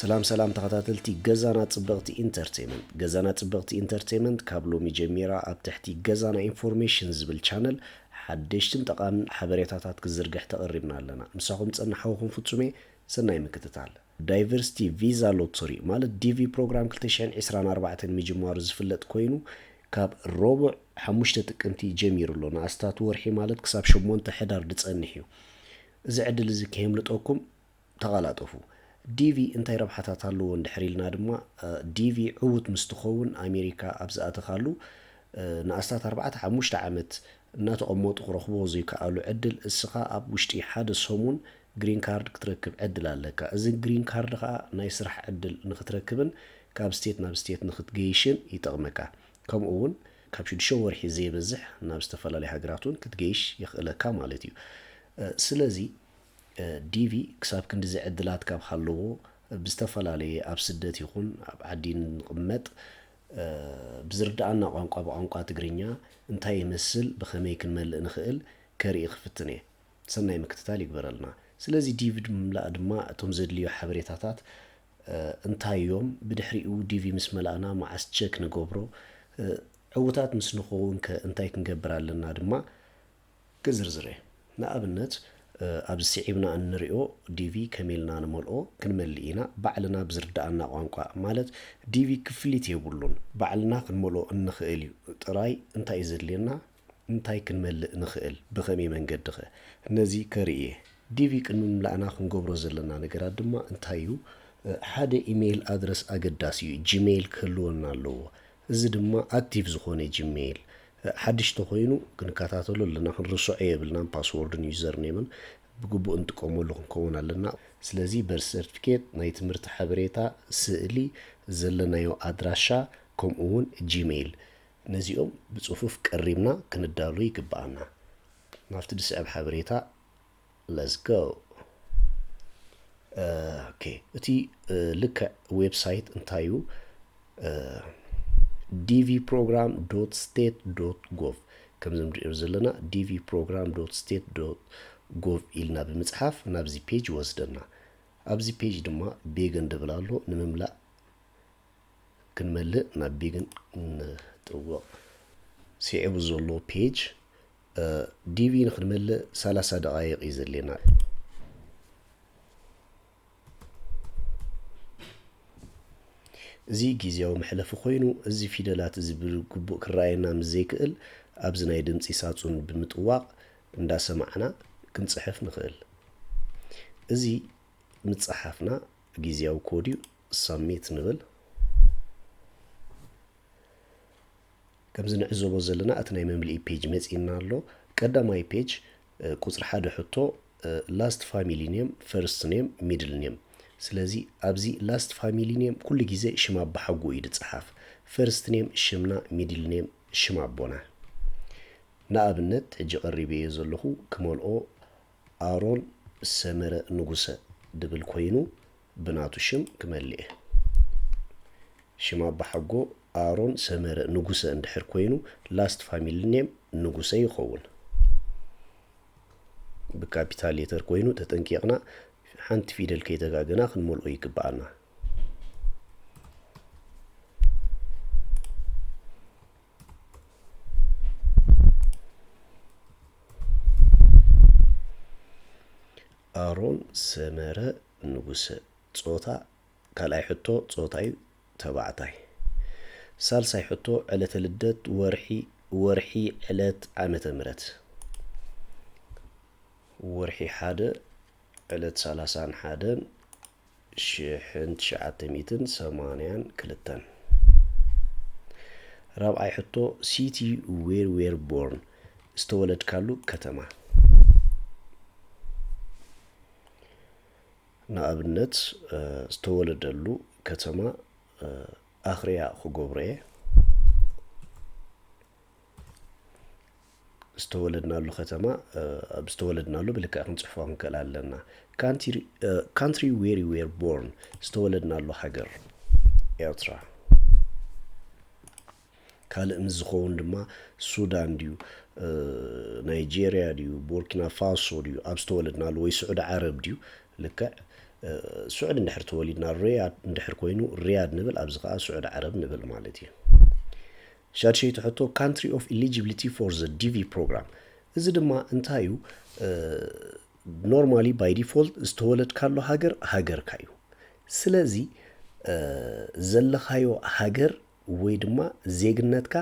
ሰላም ሰላም ተኸታተልቲ ገዛና ጽብቕቲ ኢንተርቴንመንት ገዛና ጽብቕቲ ኢንተርቴንመንት ካብ ሎሚ ጀሚራ ኣብ ትሕቲ ገዛና ኢንፎርሜሽን ዝብል ቻነል ሓደሽትን ጠቓምን ሓበሬታታት ክዝርግሕ ተቐሪብና ኣለና ምሳኹም ጸናሓውኹም ፍጹሜ ሰናይ ምክትታል ዳይቨርሲቲ ቪዛ ሎቶሪ ማለት ዲቪ ፕሮግራም ክልተ ሽሕን ዒስራን ኣርባዕተን ምጅማሩ ዝፍለጥ ኮይኑ ካብ ሮቡዕ ሓሙሽተ ጥቅምቲ ጀሚሩ ኣሎ ንኣስታት ወርሒ ማለት ክሳብ ሸሞንተ ሕዳር ድጸንሕ እዩ እዚ ዕድል እዚ ከየምልጠኩም ተቓላጠፉ ዲቪ እንታይ ረብሓታት ኣለዎ እንድሕር ኢልና ድማ ዲቪ ዕዉት ምስ ትኸውን ኣሜሪካ ኣብ ዝኣተኻሉ ንኣስታት ኣርባዕተ ሓሙሽተ ዓመት እናተቐመጡ ክረኽብዎ ዘይከኣሉ ዕድል እስኻ ኣብ ውሽጢ ሓደ ሰሙን ግሪን ካርድ ክትረክብ ዕድል ኣለካ። እዚ ግሪን ካርድ ከኣ ናይ ስራሕ ዕድል ንክትረክብን ካብ ስቴት ናብ ስቴት ንክትገይሽን ይጠቕመካ። ከምኡ ውን ካብ ሽዱሽተ ወርሒ ዘይበዝሕ ናብ ዝተፈላለዩ ሃገራት ውን ክትገይሽ የኽእለካ ማለት እዩ። ስለዚ ዲቪ ክሳብ ክንድዚ ዕድላት ካብ ሃለዎ ብዝተፈላለየ ኣብ ስደት ይኹን ኣብ ዓዲ ንቕመጥ ብዝርድኣና ቋንቋ ብቋንቋ ትግርኛ እንታይ ይመስል ብኸመይ ክንመልእ ንኽእል ከርኢ ክፍትን እየ። ሰናይ ምክትታል ይግበረልና። ስለዚ ዲቪ ንምምላእ ድማ እቶም ዘድልዩ ሓበሬታታት እንታይ እዮም? ብድሕሪኡ ዲቪ ምስ መላእና መዓስ ቸክ ንገብሮ? ዕውታት ምስ ንኸውን ከ እንታይ ክንገብር ኣለና ድማ ክዝርዝር እየ። ንኣብነት ኣብዚ ስዒብና እንሪኦ ዲቪ ከመይ ኢልና ንመልኦ ክንመልእ ኢና። ባዕልና ብዝርደኣና ቋንቋ ማለት ዲቪ ክፍሊት የብሉን። ባዕልና ክንመልኦ እንኽእል እዩ። ጥራይ እንታይ እዩ ዘድልየና? እንታይ ክንመልእ ንኽእል? ብኸመይ መንገዲኸ? ነዚ ከርኢ እየ። ዲቪ ቅድሚ ምምላእና ክንገብሮ ዘለና ነገራት ድማ እንታይ እዩ? ሓደ ኢመይል ኣድረስ ኣገዳሲ እዩ፣ ጂመይል ክህልወና ኣለዎ። እዚ ድማ ኣክቲቭ ዝኾነ ጂመይል፣ ሓድሽ እንተኾይኑ ክንከታተሎ ኣለና፣ ክንርስዖ የብልናን፣ ፓስዎርድን ዩዘርኔምን ብግቡእ ንጥቀመሉ ክንከውን ኣለና። ስለዚ በርስ ሰርትፊኬት፣ ናይ ትምህርቲ ሓበሬታ፣ ስእሊ፣ ዘለናዮ ኣድራሻ ከምኡ'ውን ጂመይል ነዚኦም ብጽፉፍ ቀሪብና ክንዳሎ ይግብኣና። ናብቲ ዝስዕብ ሓበሬታ let's go ኦኬ እቲ ልክዕ ዌብሳይት እንታይ እዩ? ዲቪ ፕሮግራም ዶት ስቴት ዶት ጎቭ ከምዚ ንሪኦ ዘለና ዲቪ ፕሮግራም ዶት ስቴት ዶት ጎቭ ኢልና ብምፅሓፍ ናብዚ ፔጅ ይወስደና ኣብዚ ፔጅ ድማ ቤገን ድብል ኣሎ ንምምላእ ክንመልእ ናብ ቢግን ንጥወቕ ሲዒቡ ዘሎ ፔጅ ዲቪ ንክንመልእ ሰላሳ ደቃይቅ እዩ ዘድልየና እዚ ግዜያዊ መሕለፊ ኮይኑ እዚ ፊደላት እዚ ብግቡእ ክረኣየና ምስ ዘይክእል ኣብዚ ናይ ድምፂ ሳጹን ብምጥዋቕ እንዳሰማዕና ክንጽሕፍ ንኽእል እዚ ምጽሓፍና ግዝያዊ ኮድ እዩ ሳሚት ንብል ከምዚ ንዕዘቦ ዘለና እቲ ናይ መምልኢ ፔጅ መፂና ኣሎ ቀዳማይ ፔጅ ቁፅሪ ሓደ ሕቶ ላስት ፋሚሊ ኔም ፈርስት ኔም ሚድል ኔም ስለዚ ኣብዚ ላስት ፋሚሊ ኔም ኩሉ ግዜ ሽም ኣባሓጎ እዩ ዝፀሓፍ ፈርስት ኔም ሽምና ሚድል ኔም ሽም ኣቦና ንኣብነት ሕጂ ቀሪበዮ ዘለኹ ክመልኦ ኣሮን ሰመረ ንጉሰ ድብል ኮይኑ ብናቱ ሽም ክመልኤ። ሽም ኣባሓጎ ኣሮን ሰመረ ንጉሰ እንድሕር ኮይኑ ላስት ፋሚሊ ኔም ንጉሰ ይኸውን። ብካፒታል ሌተር ኮይኑ ተጠንቂቕና ሓንቲ ፊደል ከይተጋገና ክንመልኦ ይግብኣና። ኣሮን ሰመረ ንጉሰ ጾታ ካልኣይ ሕቶ ጾታዩ ተባዕታይ ሳልሳይ ሕቶ ዕለተ ልደት ወርሒ ወርሒ ዕለት ዓመተ ምረት ወርሒ ሓደ ዕለት ሰላሳን ሓደን ሽሕን ትሽዓተ ሚእትን ሰማንያን ክልተን። ራብዓይ ሕቶ ሲቲ ዌር ዌር ቦርን ዝተወለድካሉ ከተማ ንኣብነት ዝተወለደሉ ከተማ ኣኽርያ ክገብሮ እየ ዝተወለድናሉ ከተማ ኣብ ዝተወለድናሉ ብልክዕ ክንጽሕፎ ክንክእል ኣለና። ካንትሪ ዌር ዌር ቦርን ዝተወለድናሉ ሃገር ኤርትራ። ካልእ ምስ ዝኸውን ድማ ሱዳን ድዩ ናይጀርያ ድዩ ቦርኪና ፋሶ ድዩ ኣብ ዝተወለድናሉ ወይ ስዑዲ ዓረብ ድዩ ልክዕ ስዑድ እንድሕር ተወሊድና ሪያድ እንድሕር ኮይኑ ሪያድ ንብል ኣብዚ ከዓ ስዑድ ዓረብ ንብል ማለት እዩ ሻድሸይቲ ሕቶ፣ ካንትሪ ኦፍ ኢሊጂብሊቲ ፎር ዘ ዲቪ ፕሮግራም እዚ ድማ እንታይ እዩ? ኖርማሊ ባይ ዲፎልት ዝተወለድካሉ ሃገር ሃገርካ እዩ። ስለዚ ዘለኻዮ ሃገር ወይ ድማ ዜግነትካ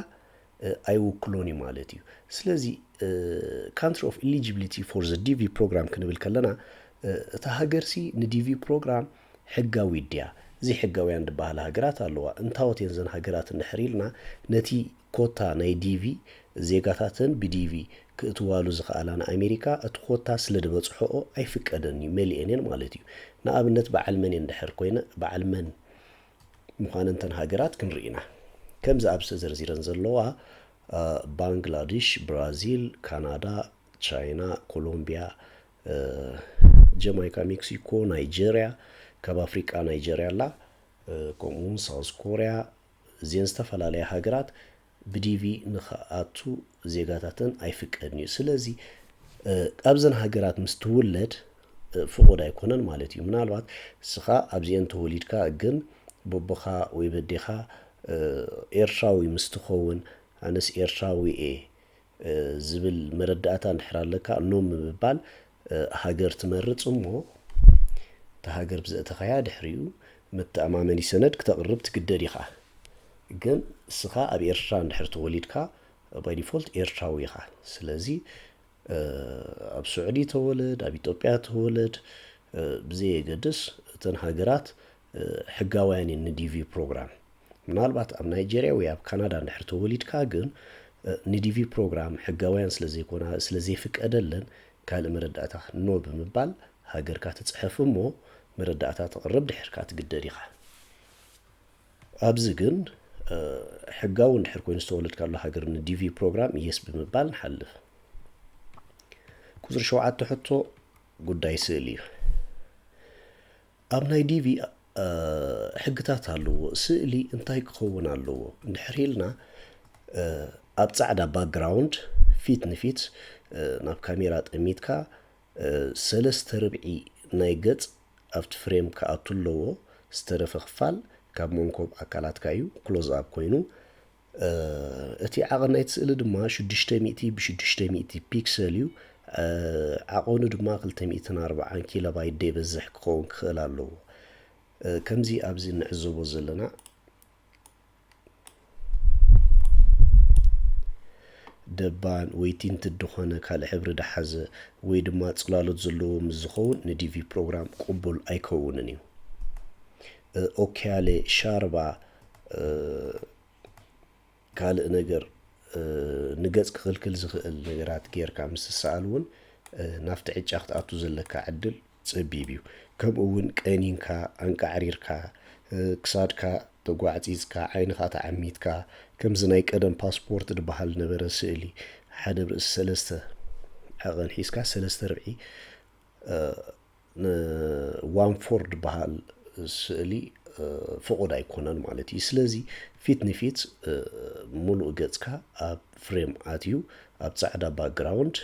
ኣይውክሎን እዩ ማለት እዩ። ስለዚ ካንትሪ ኦፍ ኢሊጂብሊቲ ፎር ዘ ዲቪ ፕሮግራም ክንብል ከለና እታ ሃገርሲ ንዲቪ ፕሮግራም ሕጋዊት ድያ? ዘይሕጋውያን ድበሃላ ሃገራት ኣለዋ። እንታዎት እየን እዘን ሃገራት እንድሕር ኢልና ነቲ ኮታ ናይ ዲቪ ዜጋታተን ብዲቪ ክእትዋሉ ዝኸኣላ ንኣሜሪካ እቲ ኮታ ስለድበጽሖኦ ኣይፍቀደን እዩ መሊኤን እየን ማለት እዩ። ንኣብነት በዓል መን እየን ድሕር ኮይነ በዓል መን ምዃነን እተን ሃገራት ክንርኢ ኢና። ከምዚ ኣብዚ ተዘርዚረን ዘለዋ ባንግላድሽ፣ ብራዚል፣ ካናዳ፣ ቻይና፣ ኮሎምቢያ፣ ጀማይካ ሜክሲኮ ናይጀርያ ካብ ኣፍሪቃ ናይጀርያ ኣላ ከምኡ እውን ሳውዝ ኮርያ እዚን ዝተፈላለያ ሃገራት ብዲቪ ንክኣቱ ዜጋታተን ኣይፍቀድን እዩ ስለዚ ኣብዘን ሃገራት ምስ ትውለድ ፍቑድ ኣይኮነን ማለት እዩ ምናልባት እስኻ ኣብዚአን ተወሊድካ ግን ቦቦኻ ወይ በዴኻ ኤርትራዊ ምስ ትኸውን ኣነስ ኤርትራዊ እየ ዝብል መረዳእታ እንድሕር ኣለካ ኖ ምብባል ሃገር ትመርጽ እሞ እታ ሃገር ብዘእተኻያ ድሕሪኡ መተኣማመኒ ሰነድ ክተቕርብ ትግደድ ኢኻ ግን እስኻ ኣብ ኤርትራ እንድሕር ተወሊድካ ባይ ዲፎልት ኤርትራዊ ኢኻ ስለዚ ኣብ ሱዕዲ ተወለድ ኣብ ኢትዮጵያ ተወለድ ብዘየገድስ እተን ሃገራት ሕጋውያን እየን ንዲቪ ፕሮግራም ምናልባት ኣብ ናይጀርያ ወይ ኣብ ካናዳ እንድሕር ተወሊድካ ግን ንዲቪ ፕሮግራም ሕጋውያን ስለ ዘይኮና ስለ ዘይፍቀደለን ካልእ መረዳእታ ኖ ብምባል ሃገርካ ትጽሕፍ እሞ መረዳእታ ተቕርብ ድሕር ከኣ ትግደድ ኢኻ ኣብዚ ግን ሕጋዊ እንድሕር ኮይኑ ዝተወለድካሉ ሃገር ንዲቪ ፕሮግራም የስ ብምባል ንሓልፍ ቁፅሪ ሸውዓተ ሕቶ ጉዳይ ስእሊ እዩ ኣብ ናይ ዲቪ ሕግታት ኣለዎ ስእሊ እንታይ ክኸውን ኣለዎ እንድሕር ኢልና ኣብ ጻዕዳ ባክግራውንድ ፊት ንፊት ናብ ካሜራ ጠሚትካ ሰለስተ ርብዒ ናይ ገጽ ኣብቲ ፍሬም ክኣቱ ኣለዎ ዝተረፈ ክፋል ካብ መንኮብ ኣካላትካ እዩ ክሎዝ ኣብ ኮይኑ እቲ ዓቐን ናይቲ ስእሊ ድማ ሽዱሽተ ሚእቲ ብሽዱሽተ ሚእቲ ፒክሰል እዩ። ዓቐኑ ድማ ክልተ ሚእትን ኣርብዓን ኪሎባይት ደይበዝሕ ክኸውን ክኽእል ኣለዎ። ከምዚ ኣብዚ እንዕዘቦ ዘለና ደባን ወይ ቲንት ድኾነ ካልእ ሕብሪ ድሓዘ ወይ ድማ ጽላሎት ዘለዎ ምስ ዝኸውን ንዲቪ ፕሮግራም ቅቡል ኣይከውንን እዩ። ኦኪያሌ ሻርባ ካልእ ነገር ንገጽ ክኽልክል ዝኽእል ነገራት ጌርካ ምስ ትሰኣል እውን ናብቲ ዕጫ ክትኣቱ ዘለካ ዕድል ጸቢብ እዩ ከምኡ እውን ቀኒንካ ኣንቃዕሪርካ ክሳድካ ተጓዕጺጽካ ዓይንኻ ተዓሚትካ ከምዚ ናይ ቀደም ፓስፖርት ዝበሃል ነበረ ስእሊ ሓደ ርእሲ ሰለስተ ዓቐን ሒዝካ ሰለስተ ርብዒ ንዋንፎርድ በሃል ስእሊ ፍቑድ ኣይኮነን ማለት እዩ። ስለዚ ፊት ንፊት ሙሉእ ገጽካ ኣብ ፍሬም ኣትዩ ኣብ ጻዕዳ ባክግራውንድ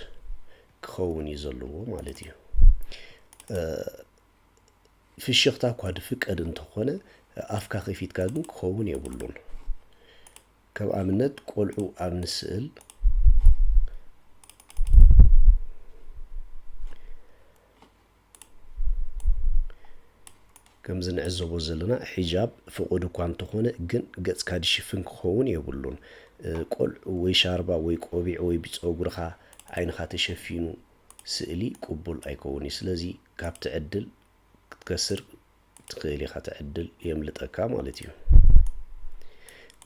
ክኸውን እዩ ዘለዎ ማለት እዩ። ፍሽኽታ እኳ ድፍቀድ እንተኾነ ኣፍካ ከፊትካ ግን ክኸውን የብሉን። ከም ኣብነት ቆልዑ ኣብ ንስእል ከምዚ ንዕዘቦ ዘለና ሒጃብ ፍቑድ እኳ እንተኾነ ግን ገጽካ ድሽፍን ክኸውን የብሉን። ቆልዑ ወይ ሻርባ ወይ ቆቢዕ ወይ ብጸጉርኻ ዓይንኻ ተሸፊኑ ስእሊ ቅቡል ኣይከውን እዩ። ስለዚ ካብ ትዕድል ክትከስር ትኽእል ኢኻ ትዕድል የምልጠካ ማለት እዩ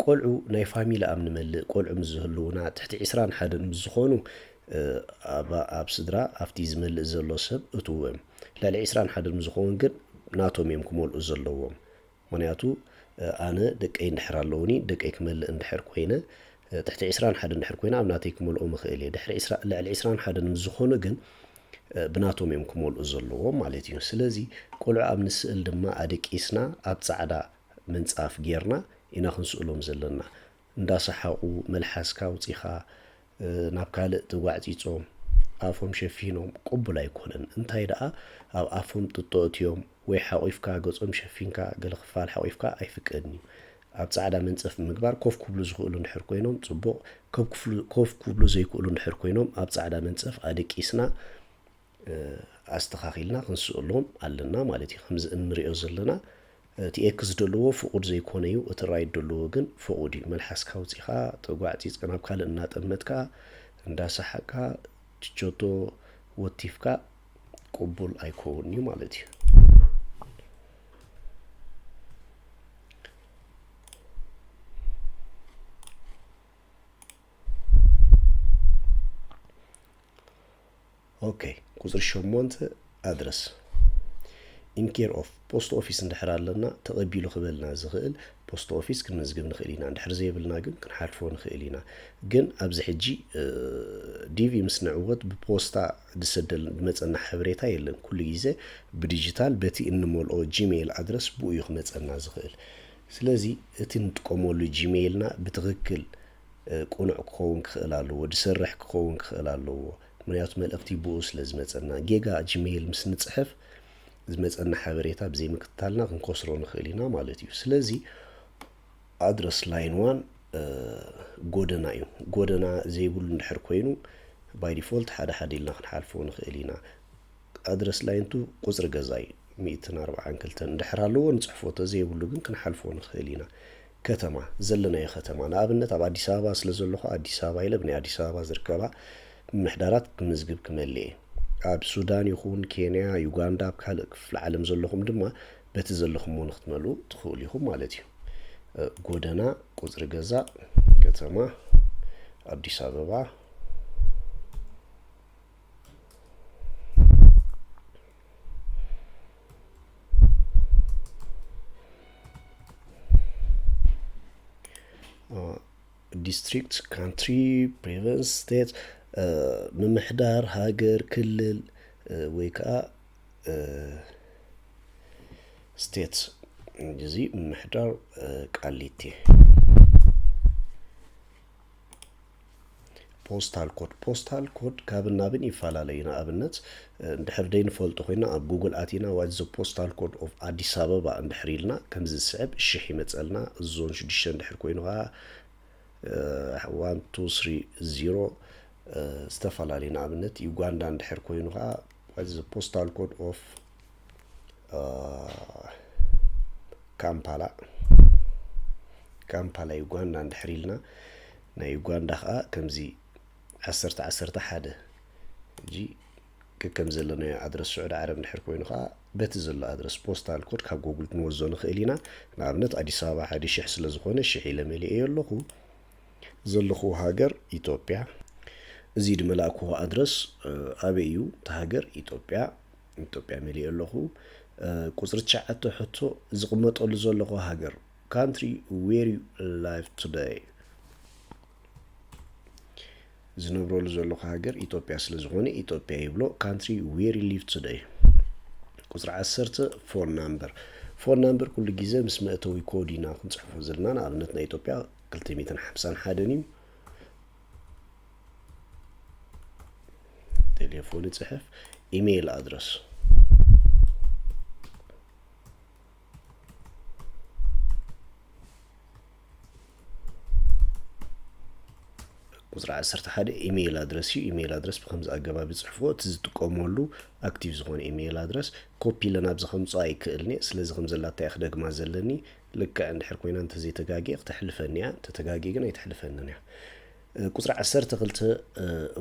ቆልዑ ናይ ፋሚሊ ኣብ ንመልእ ቆልዑ ምስ ዝህልውና ትሕቲ ዕስራን ሓደን ምስ ዝኾኑ ኣብ ስድራ ኣብቲ ዝመልእ ዘሎ ሰብ እትዎም ልዕሊ ዕስራን ሓደን ምስ ዝኸውን ግን ናቶም እዮም ክመልኡ ዘለዎም ምክንያቱ ኣነ ደቀይ እንድሕር ኣለውኒ ደቀይ ክመልእ እንድሕር ኮይነ ትሕቲ ዕስራን ሓደን እንድሕር ኮይነ ኣብ ናተይ ክመልኦም እኽእል እየ ድሕሪ ልዕሊ ዕስራን ሓደን ምስ ዝኾኑ ግን ብናቶም እዮም ክመልኡ ዘለዎም ማለት እዩ። ስለዚ ቆልዑ ኣብ ንስእል ድማ ኣደቂስና ኣብ ጻዕዳ ምንጻፍ ጌርና ኢና ክንስእሎም ዘለና። እንዳሰሓቑ መልሓስካ ኣውጺኻ ናብ ካልእ ተጓዕጺጾም ኣፎም ሸፊኖም ቅቡል ኣይኮነን። እንታይ ደኣ ኣብ ኣፎም ጥጦ እትዮም ወይ ሓቑፍካ ገጾም ሸፊንካ ገለ ክፋል ሓቑፍካ ኣይፍቀድን እዩ። ኣብ ጻዕዳ መንጸፍ ብምግባር ኮፍ ኩብሉ ዝክእሉ እንድሕር ኮይኖም ጽቡቕ ኮፍ ኩብሉ ዘይክእሉ እንድሕር ኮይኖም ኣብ ጻዕዳ መንጸፍ ኣደቂስና ኣስተኻኺልና ክንስእሎም ኣለና ማለት እዩ ከምዚ እንሪኦ ዘለና እቲ ኤክ ዝደለዎ ፍቑድ ዘይኮነ እዩ እቲ ራይት ደለዎ ግን ፍቑድ እዩ መልሓስካ ውፂኻ ተጓዕፂፅካ ናብ ካልእ እናጠመትካ እንዳሰሓቅካ ችቸቶ ወቲፍካ ቅቡል ኣይኮውን እዩ ማለት እዩ ኦኬ ቁፅሪ ሸሞንተ ኣድረስ ኢንኬር ኦፍ ፖስት ኦፊስ እንድሕር ኣለና ተቐቢሉ ክበልና ዝኽእል ፖስት ኦፊስ ክንመዝግብ ንኽእል ኢና እንድሕር ዘይብልና ግን ክንሓልፎ ንኽእል ኢና ግን ኣብዚ ሕጂ ዲቪ ምስ ንዕወት ብፖስታ ዝሰደልና ዝመጸና ሓበሬታ የለን ኩሉ ግዜ ብዲጂታል በቲ እንመልኦ ጂሜይል ኣድረስ ብኡ እዩ ክመጸና ዝኽእል ስለዚ እቲ ንጥቀመሉ ጂሜይልና ብትኽክል ቁኑዕ ክኸውን ክኽእል ኣለዎ ድሰርሕ ክኸውን ክኽእል ኣለዎ ምክንያቱ መልእኽቲ ብኡ ስለ ዝመጸና ጌጋ ጂሜይል ምስ ንጽሕፍ ዝመጸና ሓበሬታ ብዘይምክትታልና ክንከስሮ ንኽእል ኢና ማለት እዩ ስለዚ ኣድረስ ላይን ዋን ጎደና እዩ። ጎደና ዘይብሉ እንድሕር ኮይኑ ባይ ዲፎልት ሓደ ሓደ ኢልና ክንሓልፎ ንኽእል ኢና። ኣድረስ ላይን ቱ ቁፅሪ ገዛ እዩ። ሚእትን ኣርብዓን ክልተን እንድሕር ኣለዎ ንፅሕፎ ተዘይብሉ ግን ክንሓልፎ ንኽእል ኢና። ከተማ ዘለናዮ ከተማ ንኣብነት ኣብ ኣዲስ ኣበባ ስለ ዘለኹ ኣዲስ ኣበባ ኢለ ብናይ ኣዲስ ኣበባ ዝርከባ ምምሕዳራት ክምዝግብ ክመልእ እየ። ኣብ ሱዳን ይኹን ኬንያ፣ ዩጋንዳ፣ ኣብ ካልእ ክፍለ ዓለም ዘለኹም ድማ በቲ ዘለኹምዎ ንክትመልኡ ትኽእሉ ኢኹም ማለት እዩ። ጎደና፣ ቁፅሪ ገዛ፣ ከተማ ኣዲስ ኣበባ ዲስትሪክት፣ ካንትሪ፣ ፕሮቨንስ፣ ስቴት፣ ምምሕዳር፣ ሃገር፣ ክልል ወይ ከዓ ስቴትስ እዚ ምሕዳር ቃሊቲ ፖስታል ኮድ ፖስታል ኮድ ካብን ናብን ይፈላለ እዩ ንኣብነት እንድሕር ደይንፈልጦ ኮይና ኣብ ጉግል ኣቲና ዋት ዘ ፖስታል ኮድ ኦፍ ኣዲስ ኣበባ እንድሕር ኢልና ከምዚ ዝስዕብ ሽሕ ይመፀልና ዞን ሽዱሽተ እንድሕር ኮይኑ ከዓ ዋን ቱ ስሪ ዚሮ ዝተፈላለዩ ንኣብነት ዩጋንዳ እንድሕር ኮይኑ ከዓ What is the postal code of uh, ካምፓላ ካምፓላ ዩጋንዳ እንድሕር ኢልና ናይ ዩጋንዳ ከዓ ከምዚ ዓሰርተ ዓሰርተ ሓደ እጂ ከከም ዘለናዮ ኣድረስ ስዑድ ዓረብ እንድሕር ኮይኑ ከዓ በቲ ዘሎ ኣድረስ ፖስታል ኮድ ካብ ጎግል ክንወዞ ንኽእል ኢና ንኣብነት ኣዲስ ኣበባ ሓደ ሽሕ ስለ ዝኾነ ሽሕ ኢለ መሊኤዮ ኣለኹ ዘለኩዎ ሃገር ኢትዮጵያ እዚ ድመላእኩዎ ኣድረስ ኣበይ እዩ እቲ ሃገር ኢትዮጵያ ኢትዮጵያ መሊኤ ኣለኩ ቁፅሪ ትሽዓተ ሕቶ ዝቅመጠሉ ዘለኩዎ ሃገር ካንትሪ ዌር ዩ ላይቭ ቱደይ ዝነብረሉ ዘለኩ ሃገር ኢትዮጵያ ስለ ዝኮነ ኢትዮጵያ ይብሎ ካንትሪ ዌር ዩ ሊቭ ቱደይ ቁፅሪ ዓሰርተ ፎን ናምበር ፎን ናምበር ኩሉ ግዜ ምስ መእተዊ ኮድ ኢና ክንፅሕፎ ዘለና ንኣብነት ናይ ኢትዮጵያ ክልተ ሚእትን ሓምሳን ሓደን እዩ ቴሌፎን ይፅሕፍ ኢሜይል ኣድረስ ቁፅሪ ዓሰርተ ሓደ ኢሜይል ኣድረስ እዩ ኢሜይል ኣድረስ ብከምዚ ኣገባብ ይፅሕፎ እቲ ዝጥቀመሉ ኣክቲቭ ዝኾነ ኢሜይል ኣድረስ ኮፒ ኢለን ኣብዚ ከምፅኦ ኣይክእልኒ ስለዚ ከም ዘላታ ክደግማ ዘለኒ ልክዕ እንድሕር ኮይና እንተዘይተጋግየ ክተሕልፈኒ እያ እንተተጋግየ ግን ኣይትሕልፈንን እያ ቁፅሪ ዓሰርተ ክልተ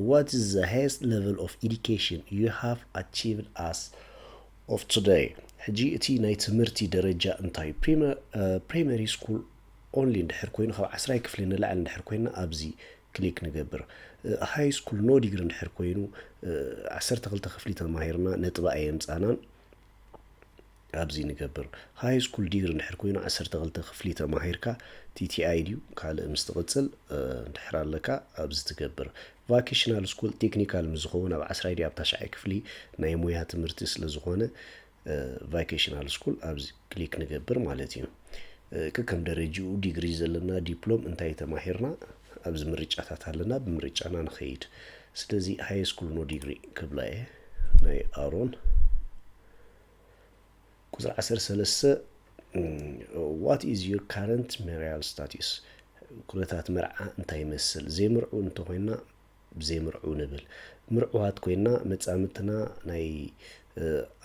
ዋት ኢዝ ዘ ሃይስት ሌቨል ኦፍ ኢዱኬሽን ዩ ሃቭ ኣቺቭድ ኣስ ኦፍ ቱደይ ሕጂ እቲ ናይ ትምህርቲ ደረጃ እንታይ ፕሪመሪ ስኩል ኦንሊ እንድሕር ኮይኑ ካብ ዓስራይ ክፍሊ ንላዕሊ እንድሕር ኮይና ኣብዚ ክሊክ ንገብር ሃይ ስኩል ኖ ዲግሪ እንድሕር ኮይኑ ዓሰርተ ክልተ ክፍሊ ተማሂርና ነጥቢ ኣየምፃናን ኣብዚ ንገብር። ሃይ ስኩል ዲግሪ እንድሕር ኮይኑ ዓሰርተ ክልተ ክፍሊ ተማሂርካ ቲቲኣይ ድዩ ካልእ ምስ ትቕጽል እንድሕር ኣለካ ኣብዚ ትገብር። ቫኬሽናል ስኩል ቴክኒካል ምስ ዝኸውን ኣብ ዓስራይ ድዩ ኣብ ታሽዓይ ክፍሊ ናይ ሞያ ትምህርቲ ስለ ዝኾነ ቫኬሽናል ስኩል ኣብዚ ክሊክ ንገብር ማለት እዩ። ከከም ደረጅኡ ዲግሪ ዘለና ዲፕሎም እንታይ ተማሂርና ኣብዚ ምርጫታት ኣለና ብምርጫና ንኸይድ። ስለዚ ሃይ ስኩል ኖ ዲግሪ ክብላ እየ ናይ ኣሮን ቁፅሪ ዓሰርተ ሰለስተ ዋት ኢዝ ዩር ካረንት ሜሪያል ስታቲስ ኩነታት መርዓ እንታይ ይመስል ዘይምርዑ እንተኮይና ዘይምርዑ ንብል ምርዑዋት ኮይና መፃምድትና ናይ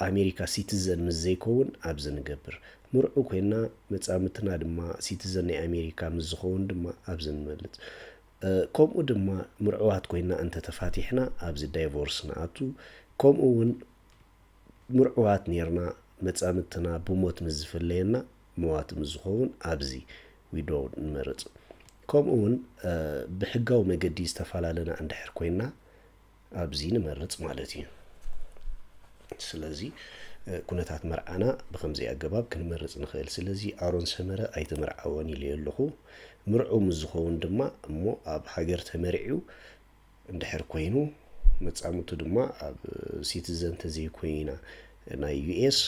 ኣሜሪካ ሲቲዘን ምስ ዘይከውን ኣብዚ ንገብር ምርዑ ኮይና መፃምድትና ድማ ሲቲዘን ናይ ኣሜሪካ ምስ ዝኸውን ድማ ኣብዚ ንመልፅ ከምኡ ድማ ምርዑዋት ኮይና እንተተፋቲሕና ኣብዚ ዳይቮርስ ንኣቱ ከምኡ እውን ምርዑዋት ኔርና መጻምድትና ብሞት ምስ ዝፍለየና መዋቲ ምስ ዝኸውን ኣብዚ፣ Widow፣ ንመርጽ። ከምኡ ውን ብሕጋዊ መገዲ ዝተፋላለና እንድሕር ኮይንና ኣብዚ ንመርጽ ማለት እዩ። ስለዚ ኩነታት መርዓና ብከምዚ ኣገባብ ክንመርጽ ንክእል። ስለዚ ኣሮን ሰመረ ኣይትምርዓወን ኢለዮ ኣለኹ። ምርዑው ምስ ዝኸውን ድማ እሞ ኣብ ሃገር ተመርዒው እንድሕር ኮይኑ መጻምድቱ ድማ ኣብ ሲቲዘን ተዘይኮይና ናይ ዩኤስ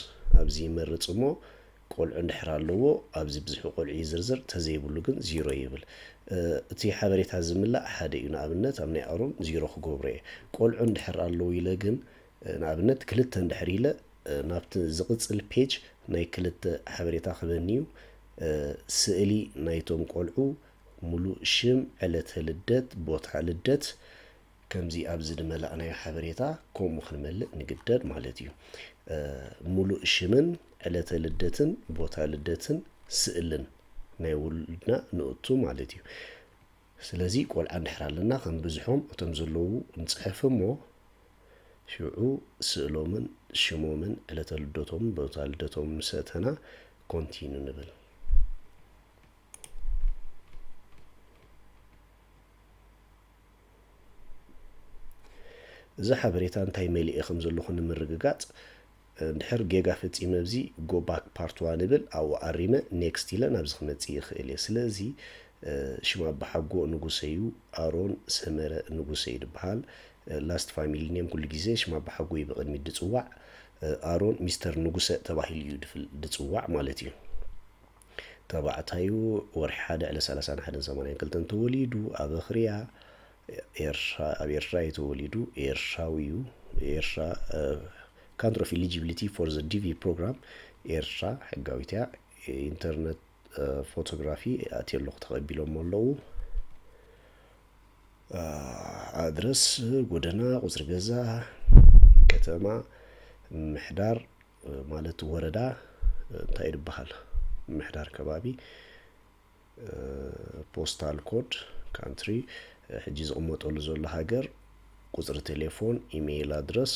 ኣብዚ ይመርጽ እሞ ቆልዑ እንድሕር ኣለዎ ኣብዚ ብዝሒ ቆልዑ ይዝርዝር ተዘይብሉ ግን ዚሮ ይብል እቲ ሓበሬታ ዝምላእ ሓደ እዩ ንኣብነት ኣብ ናይ ኣሮን ዚሮ ክገብሮ እየ ቆልዑ እንድሕር ኣለዉ ኢለ ግን ንኣብነት ክልተ እንድሕር ኢለ ናብቲ ዝቕጽል ፔጅ ናይ ክልተ ሓበሬታ ክበኒ እዩ ስእሊ ናይቶም ቆልዑ ሙሉእ ሽም ዕለተ ልደት ቦታ ልደት ከምዚ ኣብዚ ድመላእናዮ ሓበሬታ ከምኡ ክንመልእ ንግደድ ማለት እዩ ሙሉእ ሽምን ዕለተ ልደትን ቦታ ልደትን ስእልን ናይ ውሉድና ንእቱ ማለት እዩ ስለዚ ቆልዓ እንድሕር ኣለና ከም ብዝሖም እቶም ዘለዉ ንፅሕፍ እሞ ሽዑ ስእሎምን ሽሞምን ዕለተ ልደቶምን ቦታ ልደቶምን ምሰእተና ኮንቲኑ ንብል እዚ ሓበሬታ እንታይ መሊኤ ከም ዘለኹ ንምርግጋጽ እንድሕር ጌጋ ፈጺመ ኣብዚ ጎ ባክ ፓርት ዋን ይብል ኣብኡ ኣሪመ ኔክስት ኢለ ናብዚ ክመጽእ ይኽእል እየ ስለዚ ሽም ኣባሓጎ ንጉሰ እዩ ኣሮን ሰመረ ንጉሰ እዩ ድበሃል ላስት ፋሚሊ ኔም ኩሉ ግዜ ሽም ኣባሓጎ እዩ ብቕድሚት ድጽዋዕ ኣሮን ሚስተር ንጉሰ ተባሂሉ እዩ ድጽዋዕ ማለት እዩ ተባዕታዩ ወርሒ ሓደ ዕለት ሰላሳን ሓደን ሰማንያን ክልተን ተወሊዱ ኣብ ኣኽርያ ኤርትራ ኣብ ኤርትራ እዩ ተወሊዱ ኤርትራዊ እዩ ኤርትራ ካንትሪ ኦፍ ኢሊጂቢሊቲ ፎር ዘ ዲቪ ፕሮግራም ኤርትራ ሕጋዊት እያ ኢንተርነት ፎቶግራፊ ኣትየ ኣለኹ ተቐቢሎሞ ኣለዉ ኣድረስ ጎደና ቁፅሪ ገዛ ከተማ ምሕዳር ማለት ወረዳ እንታይ ድበሃል ምሕዳር ከባቢ ፖስታል ኮድ ካንትሪ ሕጂ ዝቕመጠሉ ዘሎ ሃገር ቁጽሪ ቴሌፎን ኢሜይል ኣድረስ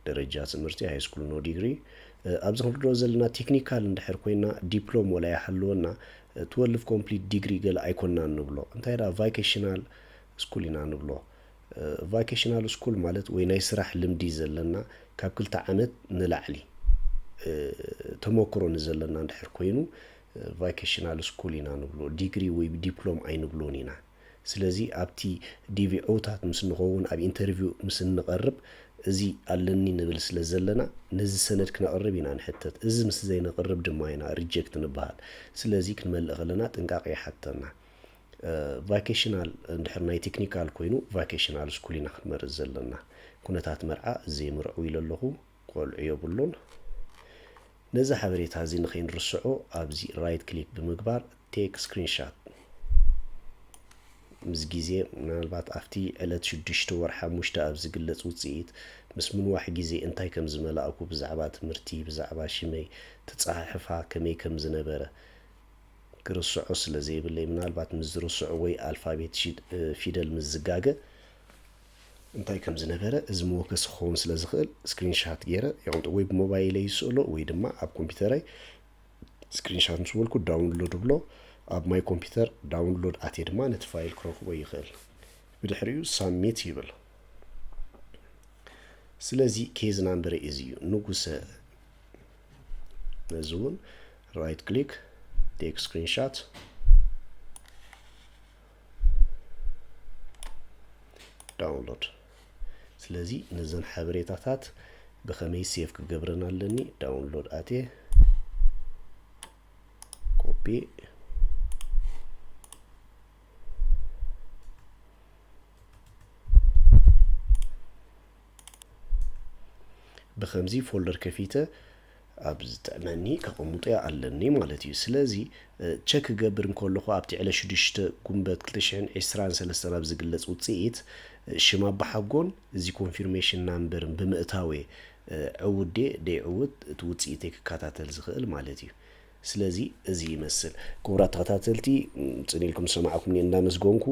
ደረጃ ትምህርቲ ሃይስኩል ኖ ዲግሪ ኣብዚ ክንርድኦ ዘለና ቴክኒካል እንድሕር ኮይና ዲፕሎም ወላ ይሃልወና ትወልቭ ኮምፕሊት ዲግሪ ገለ ኣይኮናን ንብሎ እንታይ ደኣ ቫይኬሽናል ስኩል ኢና ንብሎ ቫኬሽናል ስኩል ማለት ወይ ናይ ስራሕ ልምዲ ዘለና ካብ ክልተ ዓመት ንላዕሊ ተመክሮ ንዘለና እንድሕር ኮይኑ ቫኬሽናል ስኩል ኢና ንብሎ ዲግሪ ወይ ዲፕሎም ኣይንብሎን ኢና ስለዚ ኣብቲ ዲቪ ዕውታት ምስ ንኸውን ኣብ ኢንተርቪው ምስ እንቐርብ እዚ ኣለኒ ንብል ስለ ዘለና ነዚ ሰነድ ክነቕርብ ኢና ንሕተት እዚ ምስ ዘይነቕርብ ድማ ኢና ሪጀክት ንበሃል ስለዚ ክንመልእ ከለና ጥንቃቐ ይሓተና። ቫኬሽናል እንድሕር ናይ ቴክኒካል ኮይኑ ቫኬሽናል ስኩል ኢና ክንመርፅ ዘለና ኩነታት መርዓ ዘይምርዕው ኢለ ኣለኹ ቆልዑ የብሉን ነዚ ሓበሬታ እዚ ንኸይንርስዖ ኣብዚ ራይት ክሊክ ብምግባር ቴክ ስክሪንሻት ምስ ግዜ ምናልባት ኣብቲ ዕለት ሽዱሽተ ወር ሓሙሽተ ኣብ ዝግለጽ ውጽኢት ምስ ምንዋሕ ግዜ እንታይ ከም ዝመላእኩ ብዛዕባ ትምህርቲ ብዛዕባ ሽመይ ትጸሓሕፋ ከመይ ከም ዝነበረ ክርስዖ ስለ ዘይብለይ ምናልባት ምስ ዝርስዑ ወይ ኣልፋቤት ሺድ ፊደል ምስ ዝጋገ እንታይ ከም ዝነበረ እዚ መወከሲ ክኸውን ስለ ዝኽእል ስክሪንሻት ገይረ የቕምጦ ወይ ብሞባይለይ ይስእሎ ወይ ድማ ኣብ ኮምፒውተረይ ስክሪንሻት ምስ በልኩ ዳውንሎድ ብሎ ኣብ ማይ ኮምፒውተር ዳውንሎድ ኣትየ ድማ ነቲ ፋይል ክረክቦ ይኽእል ብድሕሪኡ ሳሚት ይብል ስለዚ ኬዝ ናምበረ እዚ እዩ ንጉሰ ነዚ እውን ራይት ክሊክ ቴክ ስክሪንሻት ዳውንሎድ ስለዚ ነዘን ሓበሬታታት ብኸመይ ሴፍ ክገብረን ኣለኒ ዳውንሎድ ኣትየ ኮፒ ብከምዚ ፎልደር ከፊተ ኣብ ዝጥዕመኒ ከቐሙጦያ ኣለኒ ማለት እዩ ስለዚ ቸክ ክገብር እንከለኹ ኣብቲ ዕለ ሽዱሽተ ጉንበት ክልተ ሽሕን ዕስራን ሰለስተን ኣብ ዝግለጽ ውጽኢት ሽም ኣባሓጎን እዚ ኮንፊርሜሽን ናምበርን ብምእታዌ ዕውዴ ደይዕውት እቲ ውጽኢተይ ክከታተል ዝኽእል ማለት እዩ ስለዚ እዚ ይመስል ክቡራት ተኸታተልቲ ጽን ኢልኩም ዝሰማዕኩምኒ እንዳመስገንኩ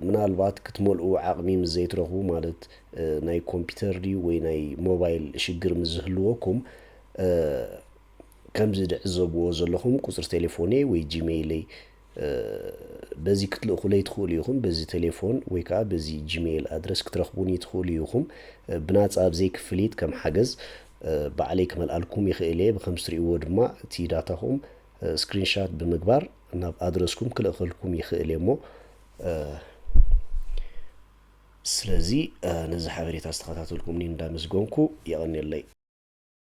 ምናልባት ክትመልኡ ዓቕሚ ምስ ዘይትረኽቡ ማለት ናይ ኮምፒተር ድዩ ወይ ናይ ሞባይል ሽግር ምስ ዝህልወኩም ከምዚ ድዕዘብዎ ዘለኹም ቁጽሪ ቴሌፎነይ ወይ ጂመይለይ በዚ ክትልእኹለይ ትኽእሉ ኢኹም፣ በዚ ተሌፎን ወይ ከኣ በዚ ጂመይል ኣድረስ ክትረኽቡኒ ትኽእሉ ኢኹም። ብናጻ ብ ዘይክፍሊት ከም ሓገዝ ባዕለይ ክመልኣልኩም ይኽእል እየ። ብከምዚ ትርእይዎ ድማ እቲ ዳታኹም ስክሪን ሻት ብምግባር ናብ ኣድረስኩም ክልእኸልኩም ይኽእል እየ እሞ ስለዚ ነዚ ሓበሬታ ዝተኸታተልኩምኒ እንዳመስገንኩ የቐንየለይ።